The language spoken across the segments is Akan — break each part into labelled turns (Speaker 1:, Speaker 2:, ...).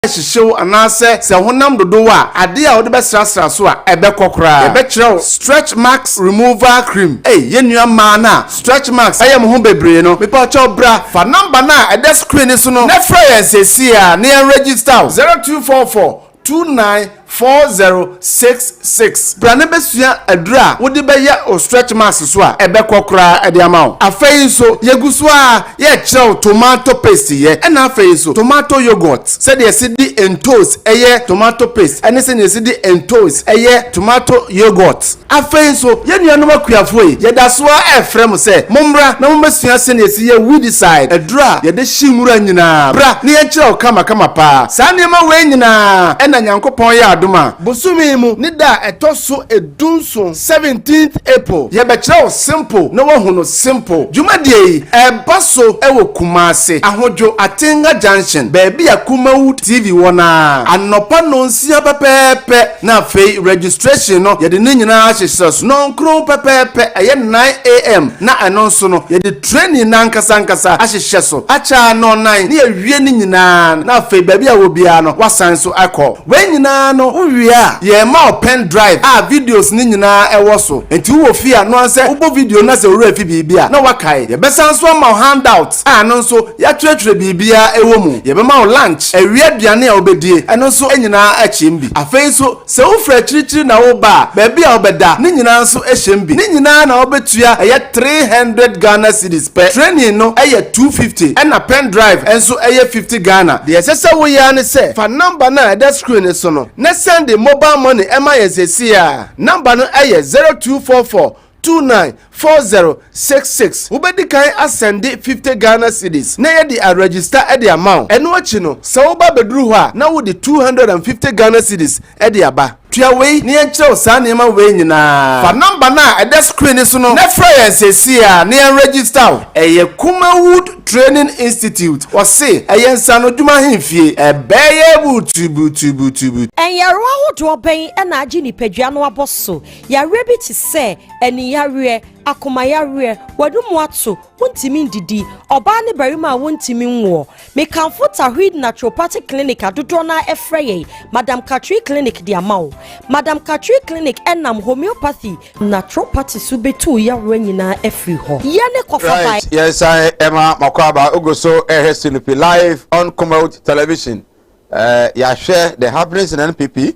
Speaker 1: hyehye wo anaasɛ sɛ honam dodo wo a, ade a wode bɛsrasra so a ɛbɛkɔ koraa. Yɛbɛkyerɛ wo Stretch Marks Removal Cream. Ei, yɛn nua mmaa no a stretch marks ayɛ mo ho bebree no, mepa kyɛw bra, fa number no a ɛda screen no so no na frɛ yɛn seesei ara na yɛn register wo, 0244 29 4066. Bra na besua aduru a wode bɛyɛ wo stretch marks so a ɛbɛkɔ koraa de ama wo. Afei nso, yegu so ara rekyerɛ wo tomato paste yɛ, ɛnna afei nso tomato yoghurt, sɛdeɛ yɛsi de ntoosi yɛ tomato paste ne sɛdeɛ yɛsi de ntoosi yɛ tomato yoghurt. Afei nso, yɛn nuanom akuafoɔ yi, yɛda so ara refrɛ mo sɛ mommra na mommɛsua sɛdeɛ yɛsi yɛ weedicide, aduro a yɛde hye nwura nyinaa. Bra na yɛnkyerɛ wo kamakama pa ara. Saa nneɛma wei nyinaa na Nyankopɔn yɛ adom a, bosome yi mu ne da a ɛtɔ so du nson, seventeenth April, yɛbɛkyerɛ wo simple na woahu no simple. Dwumadie yi, ɛreba so wɔ Kumasi, Ahodwo, Atenga Junction, baabi a Kumawood TV wɔ no ara, anɔpa nnɔnsia pɛpɛɛpɛ. Na afei registration no yɛde ne nyinaa hyehyɛ sononnkron pɛpɛɛpɛ, ɛyɛ 9AM na ɛno nso no yɛde training no ankasa ankasa ahyehyɛ so akyɛ anɔnnan na yɛawie ne nyinaa no na afei baabi a ɛwɔ biara no woasan so akɔ wei nyinaa no wowie a yɛrema wo pen drive a videos no nyinaa ɛwɔ so nti wowɔ fie a noa sɛ wobɔ video no na sɛ owura fi biribi a na woakae yɛbɛsan so ama wo handout a ɛno nso yɛatwerɛtwerɛ biribiara wɔ mu. Yɛbɛma wo lunch, awia aduane a wobɛdie, ɛno nso nyinaa akyem bi. Afei nso sɛ wofiri akyirikyiri na woreba a, baabi a wobɛda, ne nyinaa nso hyem bi. Ne nyinaa na wobɛtua ɛyɛ three hundred Ghana cedis pɛ. Training no yɛ two fifty ɛna pen drive nso yɛ fifty Ghana. Deɛ ɛsɛ sɛ woyɛ ara ne sɛ fa number no a ɛda screen no so no na sɛnde mobile money ma yɛn seesei ara. Number no yɛ zero two four four 294066 wobɛdi kan asɛnde 50 Ghana cedis na yɛde aregister de ama wo. Ɛno akyi no, sɛ woba abɛduru hɔ a na wode 250 Ghana cedis de aba. Tua wei na yɛnkyerɛ wo saa nneɛma wei nyinaa. Fa number no a ɛda screen no so no na frɛ yɛn seesei ara na yɛn register wo. Ɛyɛ Kumawood Training Institute, wɔse ɛyɛ nsaanodwuma ahemfie. Ɛbɛyɛ burutuburutuburutuburutu. Nyarewa
Speaker 2: ahodoɔ bɛn na agye nipadua no abɔ so? Yareɛ bi te sɛ, aniyareɛ, akomayareɛ, w'anomu ato, wontumi ndidi, ɔbaa ne barima a wontumi nwoɔ. Mekamfo Tawhid Naturopathic Clinic a dodoɔ no ara frɛ yɛn Madam Katri Clinic de ama wo. Madam Katri Clinic nam Homeopathy, Naturopathy so bɛtuu yareɛ nyinaa afiri hɔ. Yɛne kɔfa baeɛ. Right, yɛsan
Speaker 3: ɛma mako aba. Wogu so ɛhwɛ Sunupi live on Kumawt Television. Ɛɛ, yɛahwɛ the happenings in NPP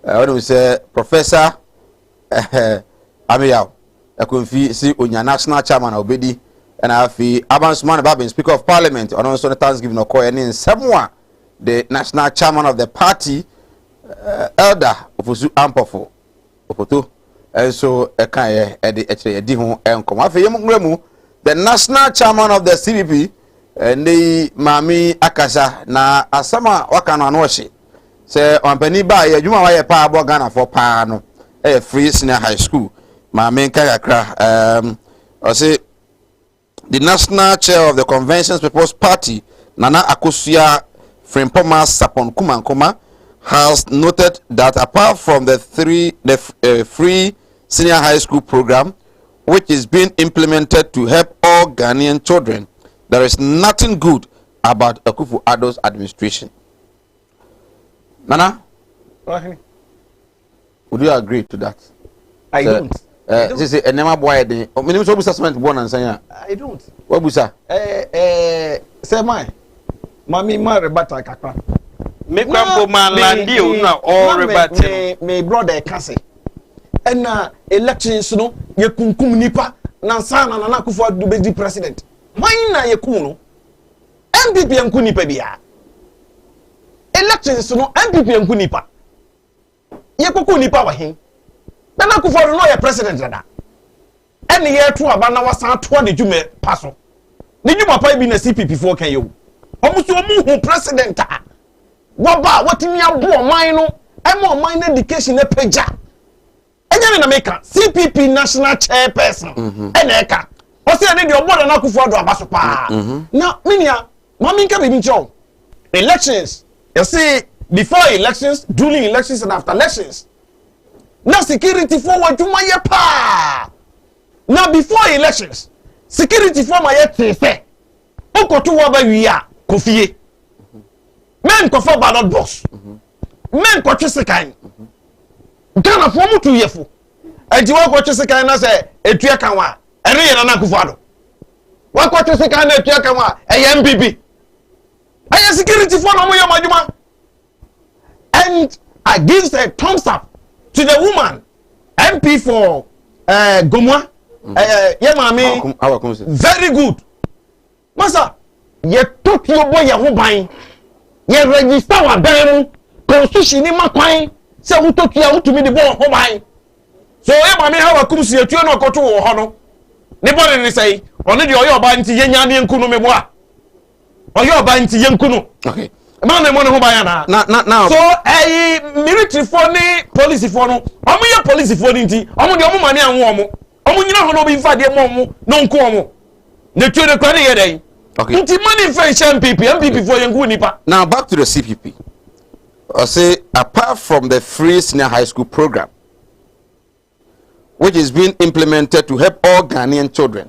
Speaker 3: Wonim sɛ Professor Ameyaw Akonfi si onya National Chairman a obedi na afei Abansumane Babin Speaker of Parliament ɔno nso ne Thanksgiving ɔkɔɛ ne nsɛm a the National Chairman of the party Elder Ofosu Ampofo Opoto nso ɛkaeɛ ɛde ɛkyerɛ yɛdi ho nkɔmɔ afei yɛn nwura mu the National Chairman of the CPP ɛnɛ yi maame akasa na asɛm a waka no ano ɔhye Sɛ ɔmampanin ba a, yɛ adwuma a wayɛ paa aboa Ghanafoɔ paa no yɛ Free Senior High School. Maame nka kakra. Um, ɔse the national chair of the Conventions People's Party, Nana Akosua Frimpoma Sapon Kumankoma, has noted that apart from the three the uh, free senior high school program, which is being implemented to help all Ghanaian children, there is nothing good about Akufu Ado's administration. Nana. Wahe. Would you agree to that? I so, don't. Uh,
Speaker 4: I don't. Sisi ɛnɛɛma
Speaker 3: bɔ ayɛ den. Mene mi sɛ wabusa cement bɔ nansan ya. I don't.
Speaker 4: Wabusa. Ɛɛ
Speaker 3: ɛɛ
Speaker 4: sɛ maa maame maa rebata kakra. Me kura mpo
Speaker 5: maa landi o na ɔɔ rebata. Me me brother ɛka
Speaker 4: se ɛna elections no yɛ kunkum nipa nansan na nana akufo adu bɛ di president. Wɔn na yɛ kum no. NPP nku nipa biaa. Elections no NPP nku nipa. Yɛkɔku nipa wɔ hen? Nana Akufo Addo na ɔyɛ president dada. Ɛne yɛreto aba na wasan atoa ne dwuma pa so. Ne dwuma pa yi bi na CPP foɔ ka yi o. Wɔn nso wɔn hu president a waba a watumi aboa ɔman no ɛma ɔman no education apagya. ɛnyɛ ne na meka cpp national chairperson mhm. ɛna ɛka ɔsɛ ɛne deɛ ɔbɔ nana akufo ado aba so paa mhm. Mhm. na me nua maame nka biribi nkyerɛ wo elections yɛse before elections during elections and after elections na security fo wɔ adwuma yɛ paa na before elections security fo ma yɛ tee sɛ wokɔto wɔ aba wie a kɔfie mɛnkɔfa ballot box mɛnkɔtwe sekan Ghana foɔ mu tu yɛ fo. Ɛnti wakɔ twe sekan na sɛ etua kan wa ɛne yɛ nana akufo ado. Wakɔ twe sekan na etua kan wa ɛyɛ MPP. Ɛyɛ security foɔ na ɔmo yɛ ɔmo adwuma. And I give a thumbs up to the woman MP for uh, eh, Gomwa. Mm. Uh, eh, yeah, mommy. Very good. Masa, Yɛtɔ tuo bɔ yɛn ho ban. Yɛrɛgyista wɔ adan mu. Konstihyini no ma kwan sɛ wotɔ tuo a wotumi de bɔ wo ho ban. So yɛn maame Hawa kum si atuo na ɔkɔtoo wɔ hɔ no, ne bɔne ne sɛn? Ɔno deɛ ɔyɛ ɔbaa nti yɛnyaa no yɛnku no, meboa? Ɔyɛ ɔbaa nti yɛnku no. Okay. Ɛma no
Speaker 3: mmɔ ne ho ban
Speaker 4: anaa? Na, na, na. So ɛyi militirifoɔ ne polisifoɔ no, wɔn yɛ polisifoɔ no nti, wɔn deɛ wɔn maame anwo wɔn. Ɔmo nyina hɔ na obi nfa adeɛ mɔ ɔmo na ɔnko ɔmo. Ne tuo no kura ne yɛ dɛn? Okay. Nti money nfa
Speaker 3: nhyɛ
Speaker 4: MPP, MPP for yɛn ngu nipa. Now back to the CPP.
Speaker 3: I say apart from the free senior high school program which is being implemented to help all Ghanaian children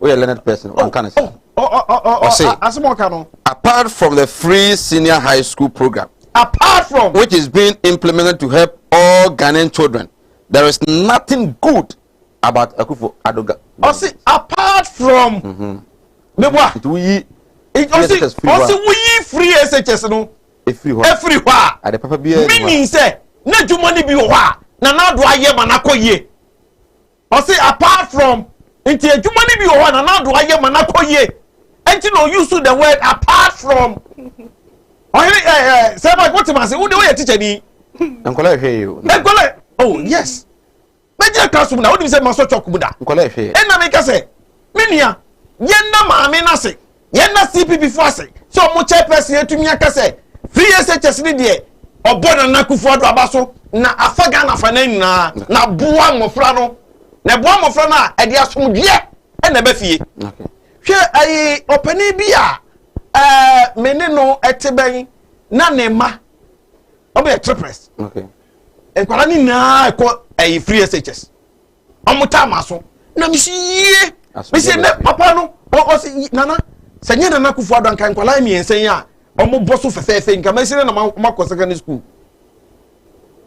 Speaker 3: woyɛ learned person wanka no saa ɔse
Speaker 4: apart from the free
Speaker 3: senior high school program apart from
Speaker 4: which is being implemented
Speaker 3: to help all Ghanaian children there is nothing good about Akufo Adoga ɔse
Speaker 4: apart from meboa nti
Speaker 3: woyi ɔse woyi
Speaker 4: free SHS no efiri hɔ efiri hɔ a ade papa biara
Speaker 3: meaning sɛ
Speaker 4: na adwuma no bi wɔ hɔ a na n'ado ayɛ ma n'akɔ yie Ɔse apart from nti adwuma no bi wɔ hɔ a Nana Addo ayɛ ma no akɔ yie nti na ɔ use the word apart from Ɔhene eh eh Sir Mike wote m'ase wo de woyɛ teacher ni. Nkɔla ɛhwɛ yɛ
Speaker 3: o. Nkɔla oh
Speaker 4: yes mɛgyina class mu na wonim sɛ masɔ chalk mu da. Nkɔla ɛhwɛ yɛ. Ɛna meka
Speaker 3: sɛ
Speaker 4: me nua yɛnna maame no ase. yɛn na cpp fo ase sɛ ɔmo chairperson atumi aka sɛ free SHS ne deɛ ɔbɔ Nana Akufo-Addo aba so na afa Ghana afanan nyinaa na boa mmɔfra no na ɛboa mmɔfra no a ɛde asomdweɛ ɛna ɛba fie hwɛ
Speaker 3: ɛyi
Speaker 4: ɔpanin bi a ɛɛ me ne no ɛte bɛn na ne mma ɔmo yɛ triplets
Speaker 3: nkwadaa ne
Speaker 4: nyinaa ɛkɔ ɛyi free SHS. ɔmo taa ma so na mi si yie mi si ne papa no ɔsi nana sɛ nye nana kufu ado anka nkwadaa mmiɛnsa yi a ɔmo bɔ so fɛfɛɛfɛ nka mɛ si ne na ma ɔmo akɔ secondary school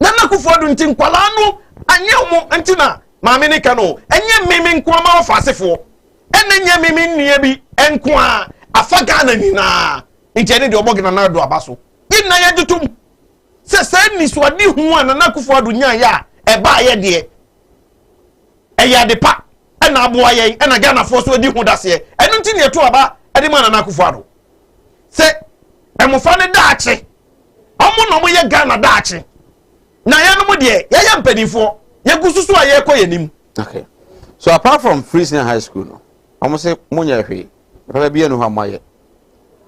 Speaker 4: nana kufu ado nti nkwadaa no anyɛ ɔmo nti na maame ne ka no ɛnyɛ mmemme nko ama ɔfa asefoɔ ɛna nyɛ mmemme nnua bi nko a afa ghana nyinaa nti ɛne deɛ ɔbɔ nana ado aba so yɛ nyinaa yɛ gye tom. sɛ saa anisoadehu a Nana Akufo-Addo nyaeɛ a ɛbaeɛ deɛ, ɛyɛ ade pa na aboa yɛn na Ghanafoɔ nso adi ho daseɛ. Ɛno nti na yɛto aba de ma Nana Akufo-Addo sɛ mmofra no daakye, wɔn na wɔyɛ Ghana daakye, na yɛnom deɛ, yɛyɛ mpanimfoɔ, yɛgu so so a yɛrekɔ yɛn anim. Okay.
Speaker 3: So apart from Free Senior High School no, wɔn se monyɛ hwee, papa biara ni hɔ a moayɛ.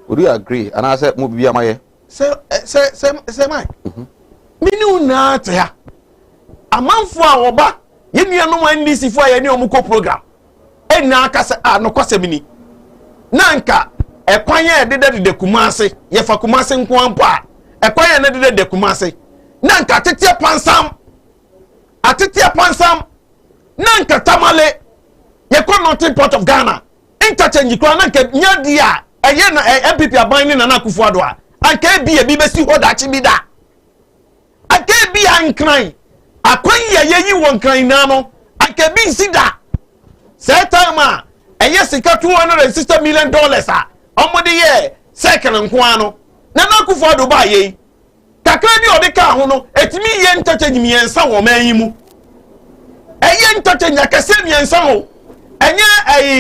Speaker 3: Would you agree? Anaasɛ mo biribi ama yɛ? Sɛ sɛ sɛ
Speaker 4: sɛ man. Mhm. Me ne wo nyinaa te ha. Amanfo a wɔba yɛn nuanom NDC fo a yɛne wɔn kɔ program. Ɛnyinaa ka sɛ a nokwasɛm ni. Na nka ɛkwan yɛ dedadeda Kumase yɛfa Kumase nko ara mpo a ɛkwan yɛ ne dedadeda Kumase. Na nka ateteɛ pansam ateteɛ pansam na nka tamale yɛkɔ northern part of Ghana Interchange koraa na anka nyɛ adeɛ a ɛyɛ na NPP aban ne Nana Akufo Addo a anka ebia ebi bɛsi hɔ daakye bi da. Anka ebia Nkran, akwan yi a yɛyi wɔ Nkran nyinaa no, anka ebi nsi da. Saa time a ɛyɛ sika two hundred and sixty million dollars a wɔde yɛɛ circle nko ara no, Nana Akufo Addo baeɛ yi, kakra bi a ɔde kaa ho no, ɛtumi yɛ interchange mmiɛnsa wɔ ɔman yi mu. Ɛyɛ interchange akɛseɛ mmiɛnsa o, ɛnyɛ ɛyi.